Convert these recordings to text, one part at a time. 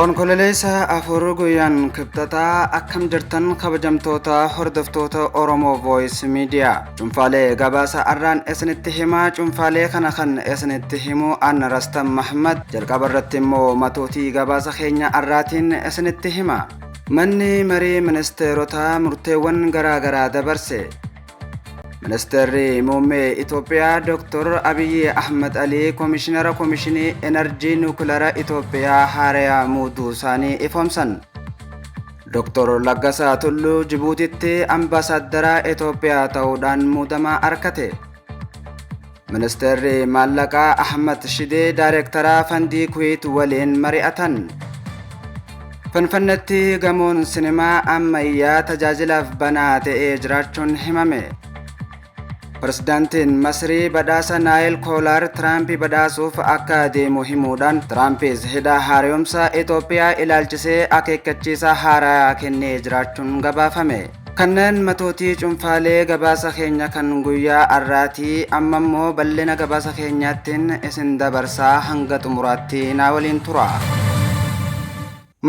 Onkololeessa afur guyyaan kibxataa akkam jirtan kabajamtoota hordoftoota Oromoo Voice Media. Cuunfaalee gabaasa arraan isinitti himaa cuunfaalee kana kan isinitti himu Anna Rastan Mahmad jalqaba irratti immoo matootii gabaasa keenya arraatiin isinitti hima. Manni marii ministeerotaa murteewwan garaagaraa dabarse. Ministeerri muummee Itoophiyaa Dr. Abiyyi Ahmad Alii Komishinara Komishinii Enerjii Nuukilara Itoophiyaa haaraya muuduu isaanii ifoomsan. Dr. Laggasaa Tulluu Jibuutitti ambaasaaddara Itoophiyaa ta'uudhaan muudama arkate. Ministeerri Maallaqaa Ahmad Shidee Daayirektaraa Fandii Kuweet waliin mari'atan. Finfinneetti gamoon sinimaa ammayyaa tajaajilaaf banaa ta'ee jiraachuun himame. Pirezidaantiin Masrii badhaasa Naayil Koolaar Tiraampi badhaasuuf akka deemu himuudhaan Tiraampis hidha haaromsa Itoophiyaa ilaalchisee akeekkachiisa haaraa kennee jiraachuun gabaafame. Kanneen matootii cunfaalee gabaasa keenya kan guyyaa arraati amma immoo bal'ina gabaasa keenyaattiin isin dabarsaa hanga xumuraatti naa waliin tura.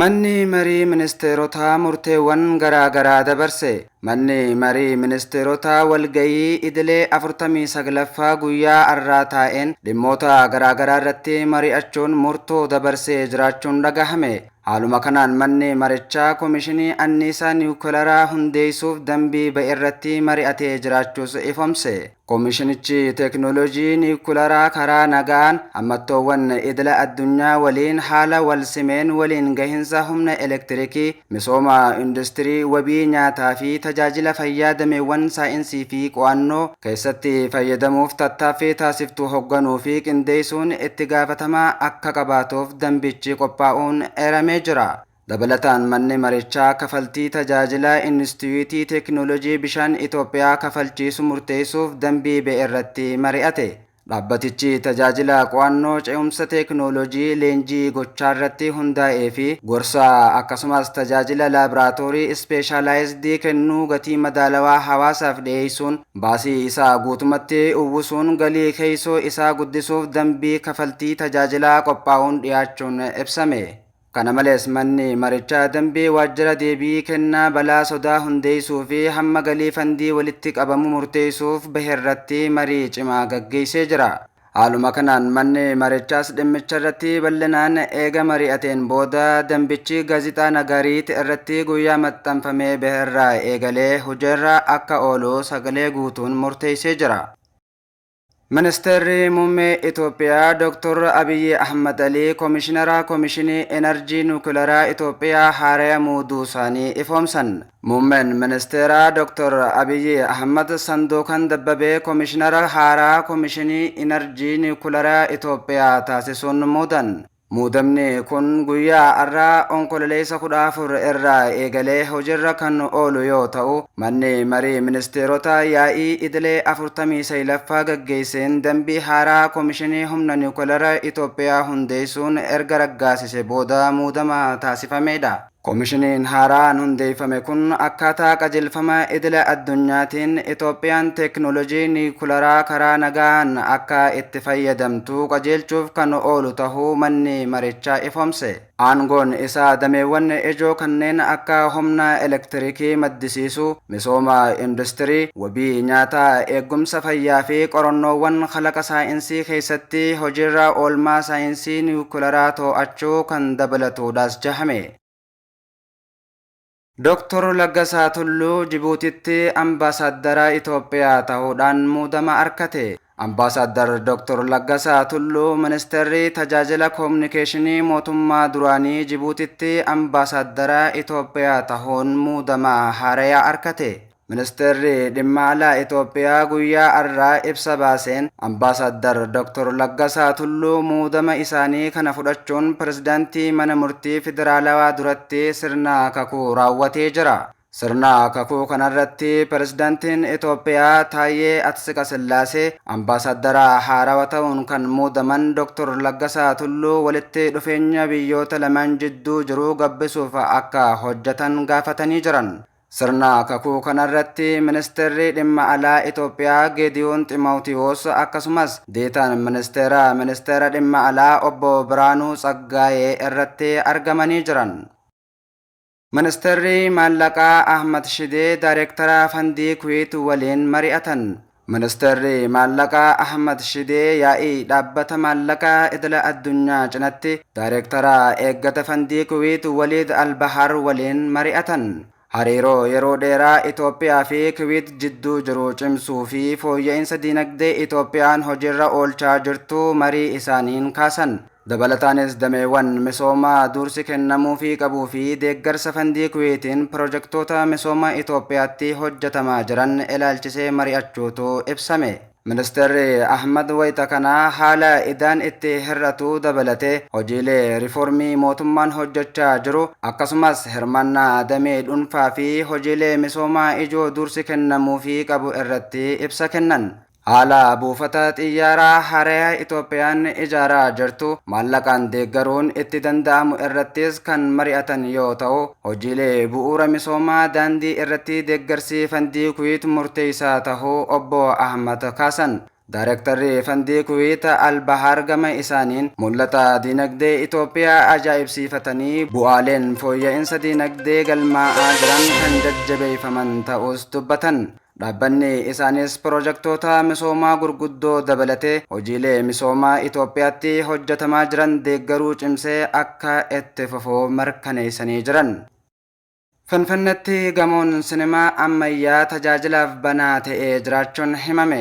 Manni marii ministeerotaa murteewwan garaa garaa dabarse. Manni marii ministeerotaa walgayii idilee 49ffaa guyyaa arraa taa'een dhimmoota garaa garaa irratti mari'achuun murtoo dabarsee jiraachuun dhagahame. Haaluma kanaan manni marichaa komishinii anniisaa niwukilaraa hundeessuuf dambii ba'e irratti mari'atee jiraachuus ifomse. Komishinichi teeknooloojii niwukilaraa karaa nagaan hammattoowwan idila addunyaa waliin haala wal simeen waliin gahinsa humna elektirikii, misooma industirii, wabii nyaataa fi tajaajila fayyaa dameewwan saayinsii fi qo'annoo, keessatti fayyadamuuf tattaaffii taasiftu hogganuu fi qindeessuun itti gaafatamaa akka qabaatuuf dambichi qophaa'uun eeramee jira. Dabalataan manni marichaa kafaltii tajaajila Inistitiyuutii Teeknoolojii Bishaan Itoophiyaa kafalchiisu murteessuuf dambii ba'e irratti mari'ate. Dhaabbatichi tajaajila qo'annoo ce'umsa teeknooloojii leenjii gochaarratti hundaa'ee fi gorsa akkasumas tajaajila laabraatoorii ispeeshaalaayizdii kennuu gatii madaalawaa hawaasaaf dhiyeessuun baasii isaa guutumatti uwwisuun galii keessoo isaa guddisuuf dambii kafaltii tajaajilaa qophaa'uun dhiyaachuun ibsame. Kana malees manni marichaa dambii waajjira deebii kennaa balaa sodaa hundeessuu fi hamma galii fandii walitti qabamu murteessuuf baherratti marii cimaa gaggeessee jira. Haaluma kanaan manni marichaas dhimmicharratti bal'inaan eega mari'ateen booda dambichi Gaazixaa Nagaariit irratti guyyaa maxxanfamee baherraa eegalee hojiirra akka oolu sagalee guutuun murteessee jira. Ministeerri Muummee Itoophiyaa Dooktor Abiyyi Ahmad Alii Komishinara Komishinii Enerjii Nuukilaraa Itoophiyaa haaraya muuduu isaanii ifoomsan. Muummeen Ministeeraa Dooktor Abiyyi Ahmad Sanduukan Dabbabee Komishinara haaraa Komishinii Enerjii Nuukilaraa Itoophiyaa taasisuun muudan. Muudamni kun guyyaa har'aa Onkololeessa 14 irraa eegalee hojiirra kan oolu yoo ta'u, manni marii ministeerotaa yaa'ii idilee 49ffaa gaggeesseen dambii haaraa Komishinii Humna Niwukilara Itoophiyaa hundeessuun erga raggaasise booda muudama taasifamedha. Komishiniin haaraan hundeeffame kun akkaataa qajeelfama idila addunyaatiin Itoophiyaan teeknoolojii niikularaa karaa nagaan akka itti fayyadamtu qajeelchuuf kan oolu tahuu manni marichaa ifoomse. Aangoon isaa dameewwan ijoo kanneen akka humna elektirikii maddisiisuu, misooma industirii, wabii nyaataa, eegumsa fayyaa fi qorannoowwan kalaqa saayinsii keessatti hojiirra oolmaa saayinsii niwukilaraa too'achuu kan dabalatuudhas jahame. Doktor Laggasaa Tulluu Jibuutitti Ambaasaaddara Itoophiyaa tahuudhaan muudama arkate. Ambaasaaddar Doktor Laggasaa Tulluu Ministeerri Tajaajila Komunikeeshinii Mootummaa duraanii Jibuutitti Ambaasaaddara Itoophiyaa tahuun muudama haaraya arkate. Ministeerri Dhimma Alaa Itoophiyaa guyyaa arraa ibsa baaseen Ambaasaaddar Doktor Laggasaa Tulluu muudama isaanii kana fudhachuun Pirezidaantii Mana Murtii Federaalawaa duratti sirna kakuu raawwatee jira. Sirna kakuu kanarratti Pirezidantiin Itoophiyaa Taayyee Atsiqasillaasee, Ambaasaaddara haarawa ta'uun kan muudaman Doktor Laggasaa Tulluu walitti dhufeenya biyyoota lamaan jidduu jiru gabbisuuf akka hojjetan gaafatanii jiran. Sirna kakuu kanarratti Ministeerri Dhimma Alaa Itoophiyaa Geediyoon Ximawtiwoos akkasumas Deetaan Ministeera Ministeera Dhimma Alaa Obbo Biraanuu Tsaggaayee irratti argamanii jiran. Ministarri Maallaqaa Ahmad Shidee Daarektara Fandii Kuweet waliin mari'atan. Ministarri Maallaqaa Ahmad Shidee yaa'ii Dhaabbata Maallaqaa Idila Addunyaa cinatti Daarektara Eeggata Fandii Kuweet Waliid Al-Bahaar waliin mari'atan. Hariiroo yeroo dheeraa Itoophiyaa fi Kuweet jidduu jiru cimsuu fi fooyya'insa diinagdee Itoophiyaan hojiirra oolchaa jirtu marii isaaniin kaasan. Dabalataanis dameewwan misoomaa duursi kennamuufii qabuu fi deeggarsa fandii Kuweetiin pirojektoota misooma Itoophiyaatti hojjetamaa jiran ilaalchisee mari'achuutu ibsame. Ministeerri Ahmad wayita kana haala idaan itti hir'atu dabalatee hojiilee riifoormii mootummaan hojjechaa jiru akkasumas hirmaannaa damee dhuunfaa fi hojiilee misoomaa ijoo duursi kennamuufii qabu irratti ibsa kennan. Haala buufata xiyyaaraa haaraya Itoophiyaan ijaaraa jirtu maallaqaan deeggaruun itti danda'amu irrattis kan mari'atan yoo ta'u, hojiilee bu'uura misoomaa daandii irratti deeggarsi Fandii Kuweet murteessaa tahuu Obbo Ahmad kaasan. Daarektarri Fandii Kuweet Al-Bahaar gama isaaniin, mul'ata diinagdee Itoophiyaa ajaa'ibsiifatanii bu'aaleen fooyya'insa diinagdee galmaa'aa jiran kan jajjabeeffaman ta'uus dubbatan. Dhaabbanni isaaniis piroojaktoota misoomaa gurguddoo dabalatee hojiilee misoomaa Itoophiyaatti hojjetamaa jiran deeggaruu cimsee akka itti fufu mirkaneessanii jiran. Finfinnetti gamoon sinimaa ammayyaa tajaajilaaf banaa ta'ee jiraachuun himame.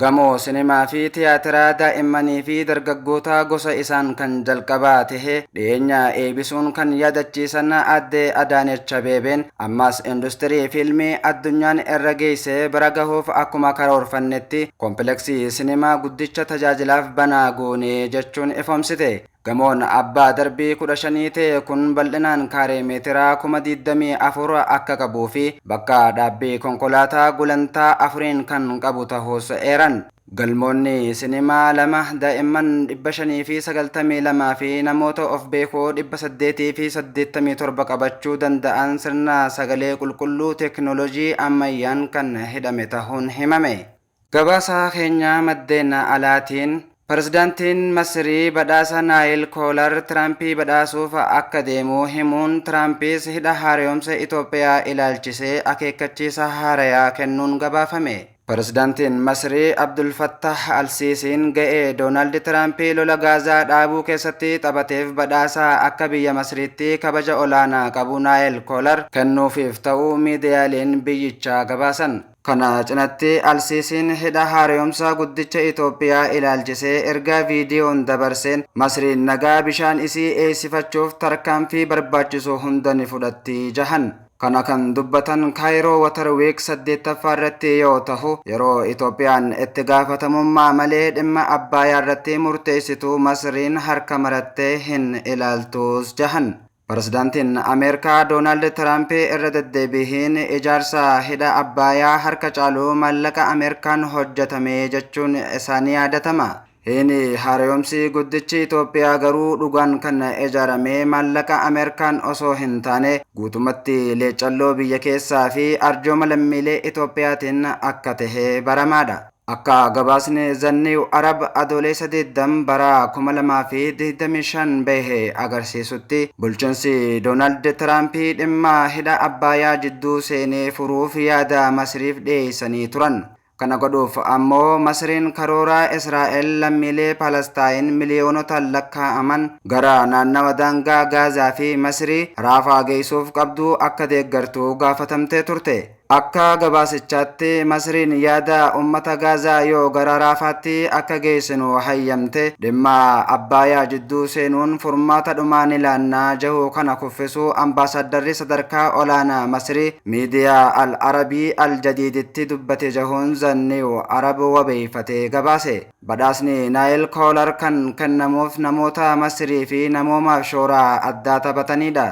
Gamoo sinimaa fi tiyaatiraa daa'immanii fi dargaggootaa gosa isaan kan jalqabaa tahe dhiyeenya eebisuun kan yaadachiisan Aadde Adaanech Abeebeen, ammas industirii fiilmii addunyaan irra geesse bira gahuuf akkuma karoorfannetti kompileksii sinimaa guddicha tajaajilaaf banaa goone jechuun ifoomsite. Gamoon abbaa darbii 15 ta'e kun bal'inaan kaaree meetira 24,000 akka qabuu fi bakka dhaabbii konkolaataa gulantaa afuriin kan qabu tahuus eeran. Galmoonni sinimaa lama daa'imman 592 fi namoota of beekoo 887 qabachuu danda'an sirna sagalee qulqulluu teeknooloojii ammayyaan kan hidhame tahuun himame. Gabaasaa keenya maddeen alaatiin, Pirezidantiin Masirii badhaasa Naayil Koolar Tiraampii badhaasuuf akka deemu himuun Tiraampiis hidha haarayomse Itoophiyaa ilaalchisee akeekkachiisa haarayaa kennuun gabaafame. Pirezidantiin Masirii Abdul Fattaah Al-Siisiin ga'ee Doonaald Tiraampii lola Gaazaa dhaabuu keessatti taphateef badhaasa akka biyya Masiriitti kabaja olaanaa qabu Naayil Koolar kennuufiif ta'uu miidiyaaleen biyyichaa gabaasan. Kana cinatti Al-Siisiin hidha haarayomsaa guddicha Itoophiyaa ilaalchisee ergaa viidiyoon dabarseen Masriin nagaa bishaan isii eeysifachuuf tarkaanfii barbaachisu hunda ni fudhatti jahan. Kana kan dubbatan Kaayiroo Water Week 8ffaa irratti yoo tahu, yeroo Itoophiyaan itti gaafatamummaa malee dhimma Abbaayaa irratti murteessitu Masriin harka marattee hin ilaaltuus jahan. Pirezidaantiin Ameerikaa Doonaald Tiraamp irra deddeebiin ijaarsa hidha Abbaayaa harka caalu maallaqa Ameerikaan hojjetame jechuun isaa ni yaadatama. Hidhi haarayomsi guddichi Itoophiyaa garuu dhugaan kan ijaarame maallaqa Ameerikaan osoo hin taane guutumatti leeccalloo biyya keessaa fi arjooma lammiilee Itoophiyaatiin akka tahe baramaadha. Akka gabaasni The New Arab Adooleessa 20 bara 2025 bahe agarsiisutti, bulchiinsi Doonaald Tiraamp dhimma hidha Abbaayaa jidduu seenee furuuf yaada Masiriif dhiyeessanii turan. Kana godhuuf ammoo Masiriin karoora Israa'el lammiilee Palastaayin miliyoonotaan lakkaa'aman gara naannawa daangaa Gaazaa fi Masirii, Raafaa geessuuf qabdu akka deeggartu gaafatamtee turte. Akka gabaasichaatti, Masriin yaada ummata Gaazaa yoo gara Raafaatti akka geessinu hayyamte, dhimma Abbaayaa jidduu seenuun furmaata dhumaa ni laanna jehuu kana kuffisuu ambaasaaddarri sadarkaa olaanaa Masrii miidiyaa Al Arabii Al Jadiiditti dubbate jehuun The New Arab wabeeyfatee gabaase. Badhaasni Naayil Koolar kan kennamuuf namoota Masrii fi namoomaaf shooraa addaa taphataniidha.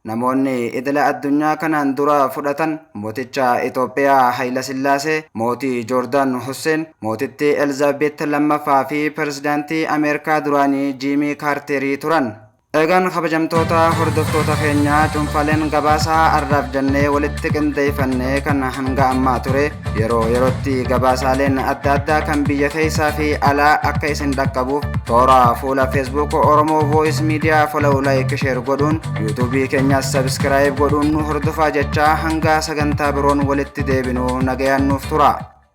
Namoonni idila addunyaa kanaan dura fudhatan mooticha Itoophiyaa Hayilasillaasee, mootii Joordaan Husseen, mootittii Elzaabeet lammaffaa fi pirezidaantii Ameerikaa duraanii Jiimii Kaarterii turan. Egaan kabajamtoota hordoftoota keenyaa cuunfaaleen gabaasaa arraaf jennee walitti qindeeffannee kan hanga ammaa ture Yeroo yerootti gabaasaaleen adda addaa kan biyya keessaa fi alaa akka isin dhaqqabuuf toora fuula Facebook Oromoo Voice Media follow like share godhuun YouTube keenyas subscribe godhuun nu hordofaa jechaa hanga sagantaa biroon walitti deebinu nagayaan nuuf tura.